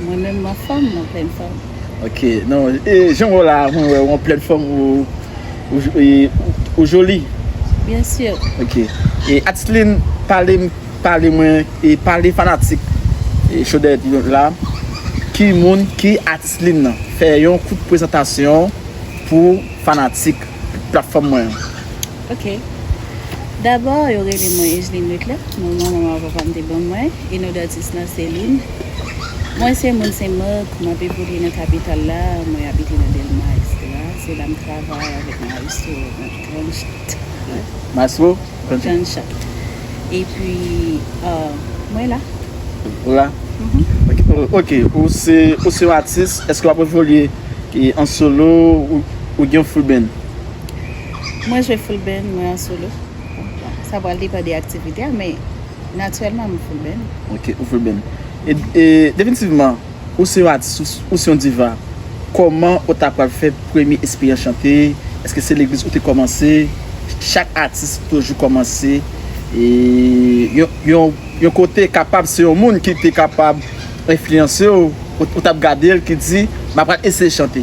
Mwen menm m anfòm nan plèn fòm. Ok nan e jan wè w la mwen wè w an plèn fòm ou joli. Byen sir. Ok e Atitline pale m pale mwen e pale fanatik Cho Dèyè Pivot la ki moun ki Atitline nan fè yon kout prezantasyon pou fanatik platfòm mwen an. Ok. Dabò, yo rele mwen Egeline Leclerc, non manman m ak papa m te ban mwen, e non datis lan Céline. Mwen se moun Sen Mak, m ap evolye nan kapital la, mwen abite nan Dèlma, eksetera. Se la m travay avèk Maestro nan Grand Chat. Maestro? Grand Chat. Epi, mwen la. Ou la? Mh. Ok. Ou se yon atis, èske w ap evolye an solo ou gen yon full band? Mwen jwe full band, mwen an solo. Sa pral depan de aktivite a, men natirèlman mwen full band. Ok, ou full band. E definitivman, ou se yon atis, ou se yon diva. Kòman ou ta pral fè premye esperyans chante? Eske se legliz ou te kòmanse? Chak atis toujou kòmanse yon kote, kapab se yon moun ki te kapab enfliyanse ou, ou t ap gade l ki di, m apral eseye chante.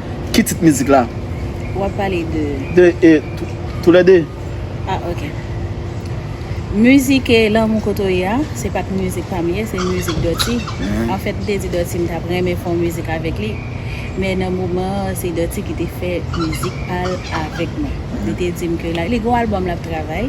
Ki tit mizik la? Ou ap pale de? De e, tou le de. Ah ok. Mizik e Lanmou kote w ye a, se pat mizik pa m ye, se mizik Dutty. An fèt m te di Dutty m t ap renmen fè yon mizik avèk li. Men nan moman an, se Dutty ki te fè mizik pa l avèk mwen. Li te di m ke la, li gen yon albòm l ap travay,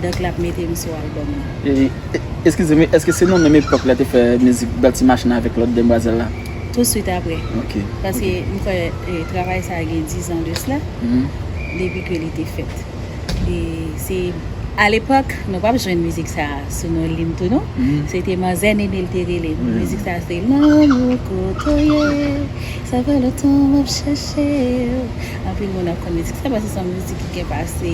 donk l ap mete m sou albòm nan. E, eskize m, eske se nan menm epòk la te fè mizik Dutty Machine avèk lòt demwazèl la? Tou swit apre. Ok. Paske m kwè travay sa gen dizan de sla depi ke li te fèt. E se a lepòk nou pa p jwenn mizik sa sou non li m tou non. Se te Manzè Nene l te rele l. Mizik sa se te Lanmou kote w ye sa fè lontan m ap chèche w. Anpil moun ap konn mizik sa paske se yon mizik ki gen pase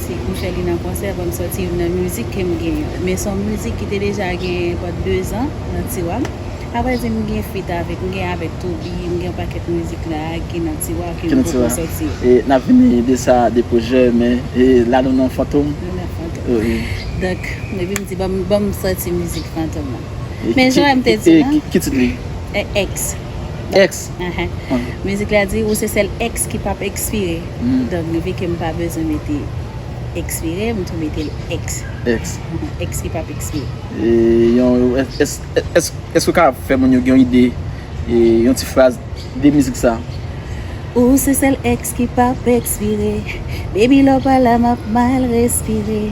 Ti kouchè li nan konsè banm sòti youn nan mizik kem gen yo men son mizik ki te deja gen enpòt 2 zan nan tiwa m aprè di m gen fit avèk m gen avèk Toby m gen yon pakèt mizik la ki nan tiwa ki m poko sòti yo. E nap vini de sa de pwojè men e la nou nan fantom Nou nan fantom wi. Donk epi m di banm banm sòti mizik fantom lan men jan m te di lan Ki tit li? Ex. Ex. Mizik la di ou se sèl ex ki pap expire donk vi kem pa bezwen mete expire m tou metel ex ex ki pap expire. Eske ou ka fè moun yo gen yon ide yon ti fraz de mizik sa. Ou se sèl ex ki pap expire baby lè w pa la map mal respire.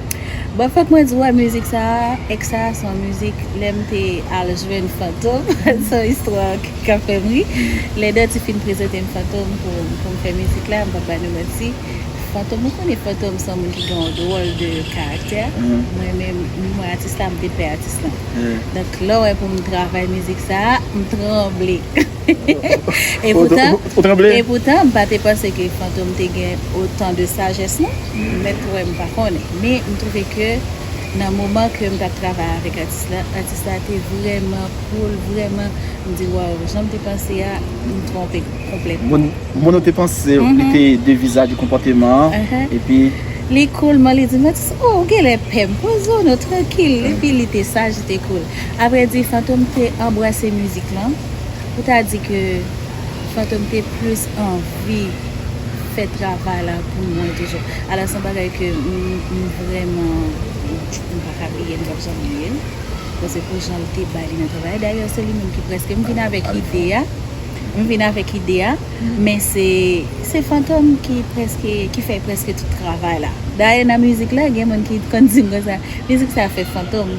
Bon fòk mwen di wè mizik sa a, ex sa a son mizik lè m te al jwenn Fantom, son istwa k ap fè m ri. Lè Dutty fin prezante m Fantom pou pou m fè mizik la, m p ap ba nou manti, Fantom ou konnen Fantom son moun ki gen yon dwòl de karaktè, mwen menm ni mwen atis la m te pè atis lan. Donk lè w wè pou m travay mizik sa a, m tranble. E poutan, m pa te panse ke Fantom te gen otan de sajès non. M mèt wè, m pa konnen. Men, m twouve ke nan moman ke m t ap travay avèk atis la, atis la te vrèman cool, vrèman, m di waw, jan m te panse a, m twonpe konplètman. Moun ou te panse li te de vizaj ou konpòteman an, epi. Li cool man, li di m, atis, o, ou genlè pè m, poze w non, trankil. Epi li te saj, li te cool. Aprè di, Fantom te anbrase mizik lan. Ou ta di ke Fantom te plis anvi fè travay la pou mwen toujou. Alò son bagay ke m vrèman m pa ka bliye, m pap janm bliye l. Bon se pou jan l te bay li nan travay la. Dayè se li menm ki prèske m vin avèk ide a. M vin avèk ide a. Men se Fantom ki prèske, ki fè prèske tout travay la. Dayè nan mizik la gen moun ki konn di m konsa, mizik sa fèt Fantom.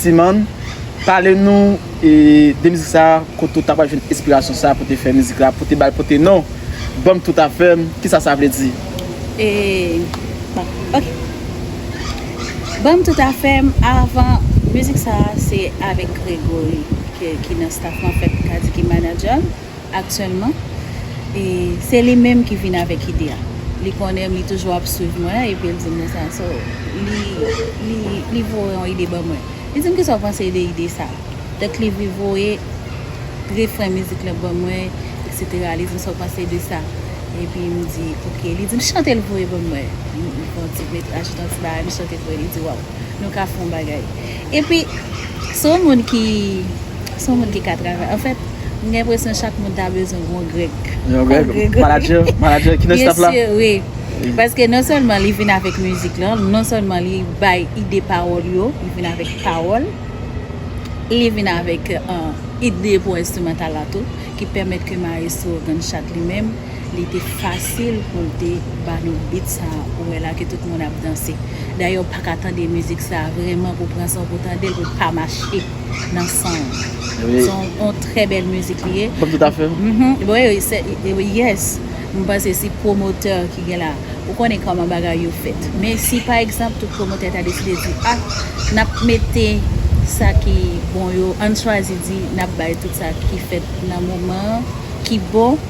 Timan, pale nou de mizik sa, kote ou ta pral jwenn enspirasyon sa pou te fè mizik la, pou te bal pou te non, banm tout afèm, kisa sa vle di? Bon, ok. Banm tout afèm, avan, mizik sa se avèk Gregory ki nan staff lan, fèt m ka di ki manager m. aktyèlman e se li menm ki vin avèk ide a. Li konnen m, li toujou ap swiv mwen epi l di m konsa. So, li li li voye yon ide ban mwen. Li di m kisa w panse de ide sa a? Donk li vi voye refren mizik lan ban mwen eksetera. Li di m sa w panse de sa? Epi m di ok. Li di m chante l voye ban mwen. M pran ti met ajoute yon ti bagay m chante voye li di waw nou ka fè yon bagay. Epi, se yon moun ki, se yon moun ki ka travay. Anfèt, m gen enpresyon chak moun ta bezwen yon Greg. Yon Greg? Manadjè? Manadjè ki nan staff la? Byen sur, wi. Paske non sèlman li vin avèk mizik lan, non sèlman li bay ide pawòl yo, li vin avèk pawòl, li vin avèk ide pou enstrimantal la tou, ki pèmèt ke mayestwo Gunshot li menm, li te fasil pou l te ba nou beat sa ou wè la ke tout moun ap danse. Dayè ou pa ka tande mizik sa vrèman pou w pran san w pou w tande l pou l pa mache nan san w. Se yon trè bèl mizik li ye. Kòm tout a fè. Wi, yes. M panse si pwomotè ki gen la, ou konnen kòman bagay yo fèt. Men si pa egzanp tout pwomotè ta deside di a n ap mete sa ki bon yo, an n chwazi di n ap bay tout sa ki fèt nan moman an ki bon.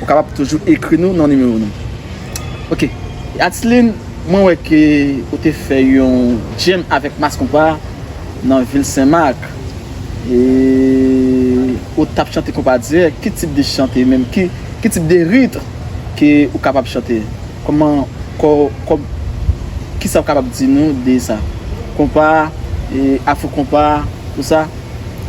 Ou kapab toujou ekri nou nan nimewo nou. Ok Atline mwen wè ke ou te fè yon jam avèk Mass Konpa nan vil Sen Mak e ou tap chante konpa dirèk, ki tip de chante menm, ki tip de ritre ke ou kapab chante? Kòman kòb kisa ou kapab di nou de sa? Konpa, afro konpa, tout sa?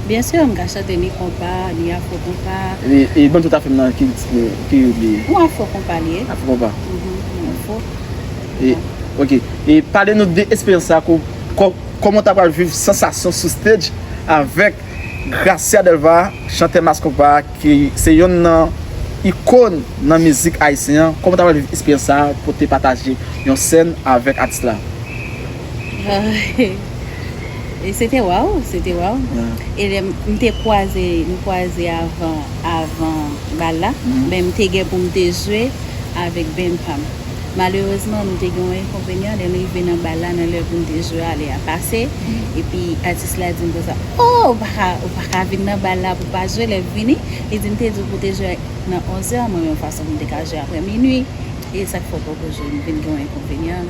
Bien sûr m ka chante ni konpa, ni afro konpa. E ban tout afè m nan ki ou li ye? Yon afro konpa li ye. Afro konpa? Uhmm, yon afro konpa. Ok, e pale nou de esperyans sa kou, kòman w ta pral viv sansasyon sou stage avèk Gracia Delva, chantè Mass Konpa ki se yonn nan ikon nan mizik ayisyen an, kòman w ta pral viv esperyans sa pou te pataje yon sèn avèk atis la? E se te waww, se te waww. E lè m te kwaze, m kwaze avan, avan bal la. Men m te gen pou m te jwe avèk band pa m. Malerezman nou te gen yon enkonvenyan lè n rive nan bal la nan lè pou n te jwe a, lè a pase. Epi atis la di m konsa, Oh! Ou pa ka, ou pa ka vin nan bal la pou w pa jwe lè m vini. Li di m te di w pou w te jwe nan onzè, mwen menm fason pou m te ka jwe aprè minui. E sa k fè w poko jwe? M vin gen yon enkonvenyan.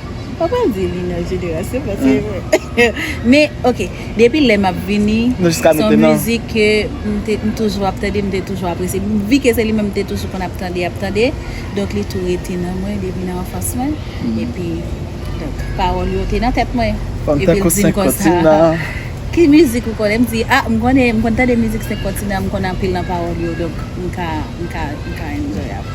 Ou pa di li nan jenerasyon pase yo. Men ok, depi lè map vini, son mizik ke m te toujou ap tande, m te toujou apresye. Vi ke se li menm m te toujou konn ap tande, ap tande, donk li tou rete nan mwen depi nan anfans mwen. E pi, donk, pawòl yo te nan tèt mwen. Fanm tankou 5 kontinan. Ki mizik ou konnen? M di, a, m konnen, m konn tande mizik 5 kontinan, m konnen anpil nan pawòl yo, donk m ka, m ka, m ka enjoy avèl.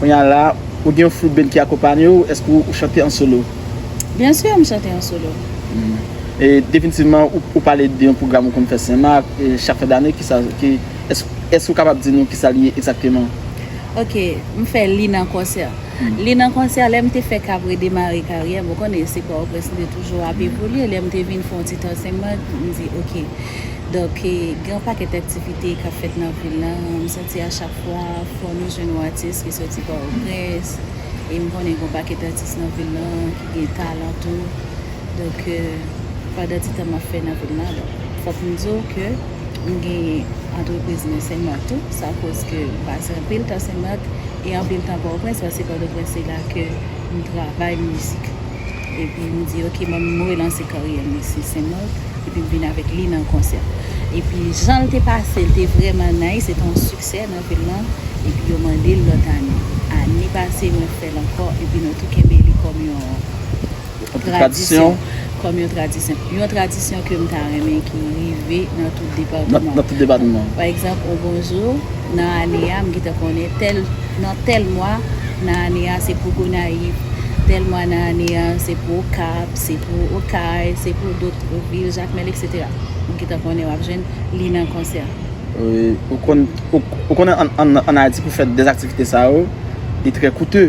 Kounye a la, ou gen yon flute band ki akonpanye ou, èske ou chante an solo? Byen sûr, m chante an solo. E definitivman, ou pale de yon pwogram ou konn fè Senmak, chak fen dane, kisa, ki, èske ou kapab di nou kisa li ye egzakteman? Ok, m fè li nan konsè. Li nan konsè, lè m te fèk ap redemare karyè m, ou konnen se Pòtoprens m te toujou ap evolye, lè m te vin fè yon ti tan Senmak, m di ok, donk gen yon pakèt aktivite k ap fèt nan vil la, m santi. Se a chak fwa fò nou jwenn yon atis ki soti pòtoprens e m konnen gen yon pakèt atis nan vil lan ki gen talan tou donk pandan ti tan map fè nan vil lan donk fòk m di w ke m genyen antrepriz nan senmak tou sa koz ke m pase anpil tan senmak e anpil tan pòtoprens paske pòtoprens se la ke m travay mizik. Epi m di ok mwen m relanse karyè m isi Sen Mak epi m vin avèk li nan konsè epi jan l te pase l te vrèman nice se te yon siksè nan vil lan epi yo mande l lòt ane ane pase mwen fè l ankò epi nou tou kenbe li kòm yon tradisyon kòm yon tradisyon yon tradisyon ke m ta renmen ki rive nan tout depatman pa egzanp yon bonjou. Nan ane a, m gentan konnen tèl nan tèl mwa nan ane a se pou Gonayiv, tèl mwa nan ane a se pou Okap, se pou Okay, se pou dot vil, Jakmèl eksetera. Ou gentan konnen w ap jwenn li nan konsè. Ou konnen an Ayiti pou fè de aktivite sa yo, li trè koute.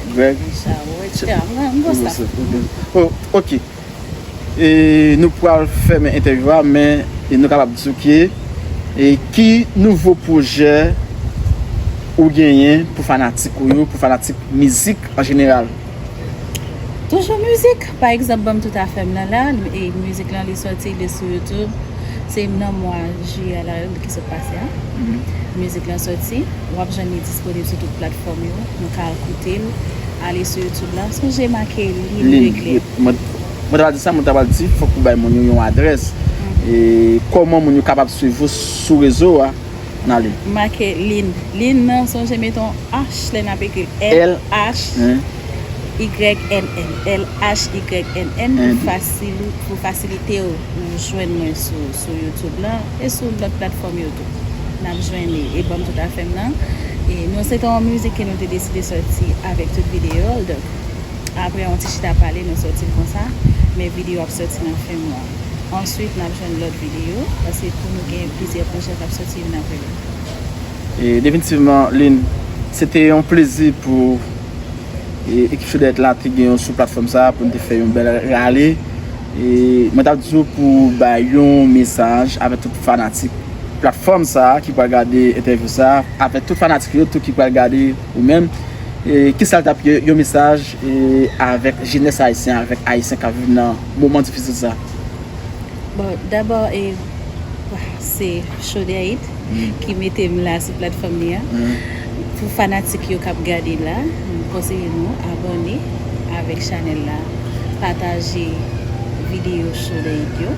Greg. Ok. E nou pral fèmen entèvyou a men nou kapab di ok e ki nouvo pwojè ou genyen pou fanatik ou yo, pou fanatik mizik an jeneral? Toujou mizik. Pa egzanp banm tout afèm nan la e mizik lan li sòti li sou youtube se nan mwa jiyè la ki sot pase a mizik lan sòti wap jwenn li disponib sou tout platfòm yo nou ka al koutel ale sou youtube la sonje make li li regle. Mwen ta pral di sa mwen ta pral di fòk ou bay moun yo yon adrès e kòman moun yo kapab swiv ou sou rezo a. N ale. Make lin. Lin nan sonje mete yon H lè n ap ekri l. LHYNN. LHYNN pou fasilite w pou w jwenn mwen sou YouTube lan e sou lòt platfòm yo tou. N ap jwenn li. E banm tout afè m nan. E nou se te yon mizik ke nou te deside sòti avèk tout videyo l. Donk, apre yon ti chita pale nou sòti l konsa. Men videyo ap sòti nan fen mwa. Answit nap jwenn lòt videyo. Pase pou nou gen plizyè pwojè kap soti youn apre lòt. E definitivman Lynn, se te yon plezi pou Ekip Choudèèt la te gen ou sou platfòm sa a pou nou te fè yon bèl rale. E mwen tap di ou pou ou bay yon mesaj avè tout fanatik platfòm sa a ki pral gade entèvyou sa a, avè tout fanatik yo tou ki pral gade ou menm. E kisa l tap yon mesaj avèk jenès Ayisyen, avèk Ayisyen kap viv nan. moman difisil sa? Bon, dabò e se Chaudiaït ki mete m la sou platfòm li a. Pou fanatik yo k ap gade la, m konseye nou abòne avèk chanèl la, pataje videyo Chaudiaït yo.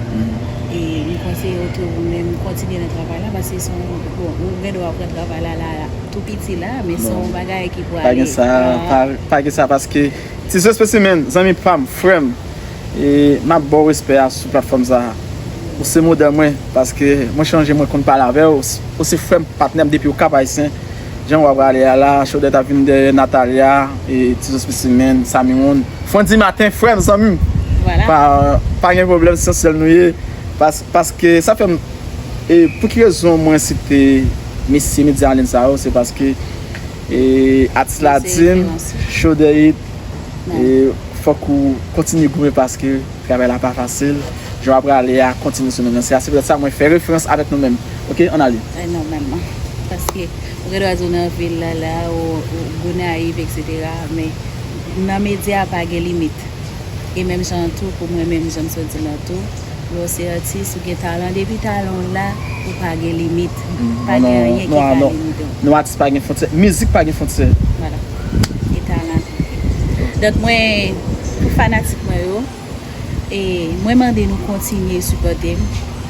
E m konseye w tou ou menm kontinye nan travay la paske se yon, bon, ou gen dwa pran travay la la tou piti la, men se yon bagay ki pou ale. Non, pa gen sa, pa gen sa paske. Tiseu Specimen, zanmi pam, frèm, e map baw respè a sou platfòm sa. Ou se modèl mwen, paske mwen chanje mwen konn pale avèw, ou se frèm, patnèm depiw Cap Haïtien, jan wa prale a la, Chaudette ap vin dèyè Nathalia, e Tiseu Specimen, Samy Ron, Frandy Martin, frèm, zanmim, pa gen problèm se yon sèl nou ye, paske sa fèm, e pouki rezon mwen site mesye medya anliyn sa yo, se paske. E atis la dim show the hit e fòk ou kontinye goumen paske travay la pa fasil jan wap rale a kontinye sou menm lanse a se poutèt sa mwen fè referans avèk nou menm ok ann ale. E nòmalman paske ou gen dwa di ou nan vil la la ou gonayiv etc men nan medya pa gen limit e menm jan an tou pou mwen menm janm sot di lan tou. Bro se atis ou gen talan depi talan w la ou pa gen limit pa gen anyen ki ka limite w. Non atis pa gen fontyè mizik pa gen fontyè. Voilà e talan tou ok donk mwen pou fanatik mwen yo e mwen mande nou kontinye sipòte m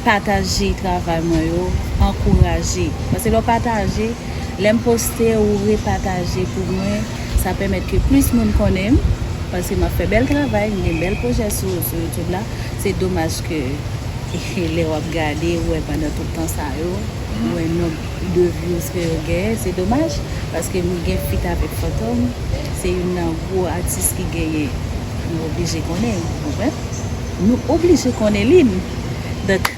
pataje travay mwen yo ankouraje pase lè w pataje lè m poste ou repataje pou mwen. Sa pèmèt ke plis moun konnen m, paske m ap fè bèl travay, m gen bèl pwojè sou YouTube la. Se domaj ke lè w ap gade, ou wè pandan tout tan sa yo, ou wè nonb de vyouz ke yo genyen. Se domaj, paske m gen fit avèk Fantom, se youn nan gwo atis ki genyen. Nou oblije konnen, ou konprann? Nou oblije konnen li. Donk.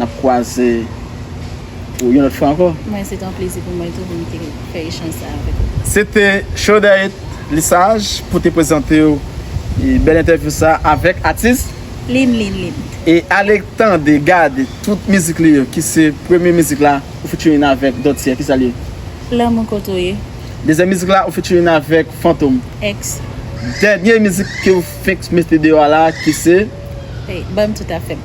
Nap kwaze pou yon lòt fwa ankò. Mwen se te yon plezi pou mwen tou pou m te fè echanj sa avèk ou. Se te Chaudette Lissage pou te prezante w bèl entèvyou sa avèk atis. Lynn Lynn Lynn. E ale tande, gade tout mizik li yo ki se premye mizik la ou featuring avèk Dotye ki sa l ye? Lanmou kote w ye. Dezyèm mizik la ou featuring avèk Fantom. Ex. Dènye mizik ke ou fenk mete deyò a la ki se? Ban m tout afè m.